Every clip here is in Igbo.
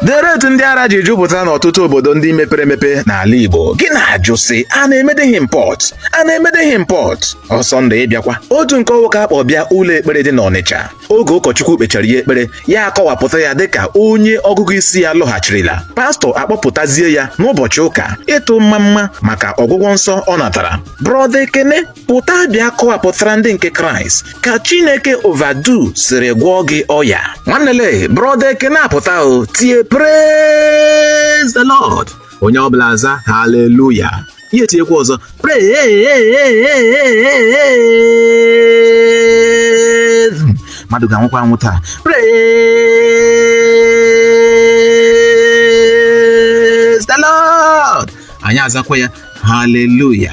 Dere etu ndị ara ji jupụta n'ọtụtụ obodo ndị mepere emepe n'ala Igbo gị na-ajụ sị a na-emedeghị import a na-emedeghị import Ọsọndụ ị bịakwa otu nke ọwụ ka a kpọ bịa ụlọ ekpere dị n'Ọnịcha oge ụkọchukwu kpechara ya ekpere ya akọwapụta ya dịka onye ọgụgụ isi ya lọghachirila pastọ akpọpụtazie ya n'ụbọchị ụka ịtụ mmamma maka ọgwụgwọ nsọ ọ natara brọda ekene pụta bịa kọwapụtara ndị nke kraịst ka chineke overdo siri gwọọ gị ọya nwanne le brọda ekene apụta o tie praise the lord onye ọbụla aza haleluya ya etiekwa ọzọ praise mmadụ ga-anwụkwa anwụ taa praise the lord anyị azakwa ya haleluya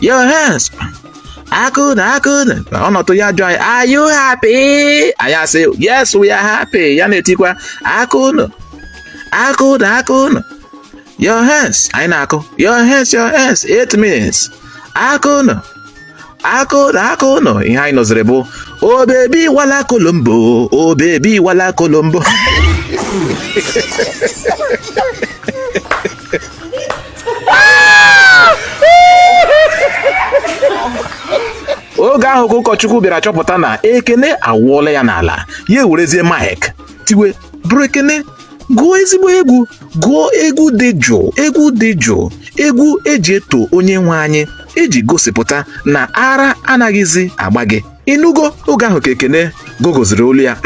Your hands. Aka unu aka unu ọ nọdụ ya jụọ anyị are you happy? Anyị asị yes we are happy ya na-etikwa aka unu aka unu aka unu your hands anyị na-akụ your hands your hands eight minutes aka unu aka unu aka unu ihe anyị nụziri bụ o baby oh, walakolombo o baby oh, walakolombo oge ahụ ka ụkọchukwu bịara chọpụta na ekene awụọla ya n'ala ya ewerezie mike tiwe brọ ekene gụọ ezigbo egwu gụọ egwu dị jụụ egwu dị jụụ egwu e ji eto onye nwe anyị e ji gosipụta na ara anaghịzi agba gị ị nụgo oge ahụ ka ekene gogoziri olu ya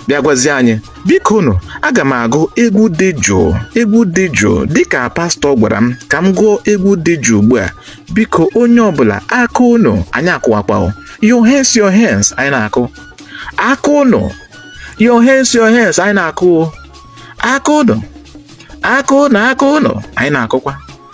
bịa gwazie anyị bikonụ aga m agụ egwu dị jụụ egwu dị jụụ dịka pastọ gwara m ka m gụọ egwu dị jụụ ugbu a biko onye ọbụla aka unu anyị akụwakwa your hands your hands anyị na-akụ aka unu your hands your hands anyị na-akụ aka unu aka unu aka unu anyị na-akụkwa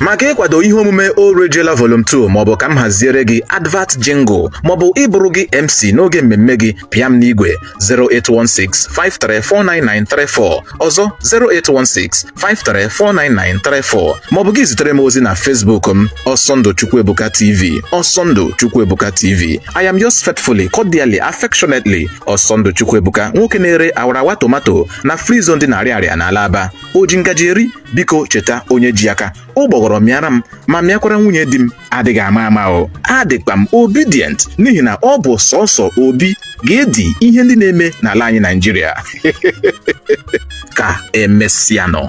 maka ịkwado ihe omume orejela volum 2 maọbụ ka m haziere gị advert jingle maọbụ ịbụrụ gị mc n'oge mmemme gị pịa m n'igwe 0816 5349934 ọzọ 0816 5349934 maọbụ gị zitere m ozi na Facebook m Ọsọndụ Chukwuebuka TV Ọsọndụ Chukwuebuka TV I am yours faithfully cordially affectionately Ọsọndụ Chukwuebuka nwoke na-ere awarawa tomato na free zone dị n'Ariaria na Alaba o ji ngaji eri biko cheta onye ji aka ụgbọghọrọ mịara m ma mịakwara nwunye di m adịghị ama ama o adịkwa m obedient n'ihi na ọ bụ sọsọ obi ga-edi ihe ndị na-eme n'ala anyị Naịjirịa ka emesịanụ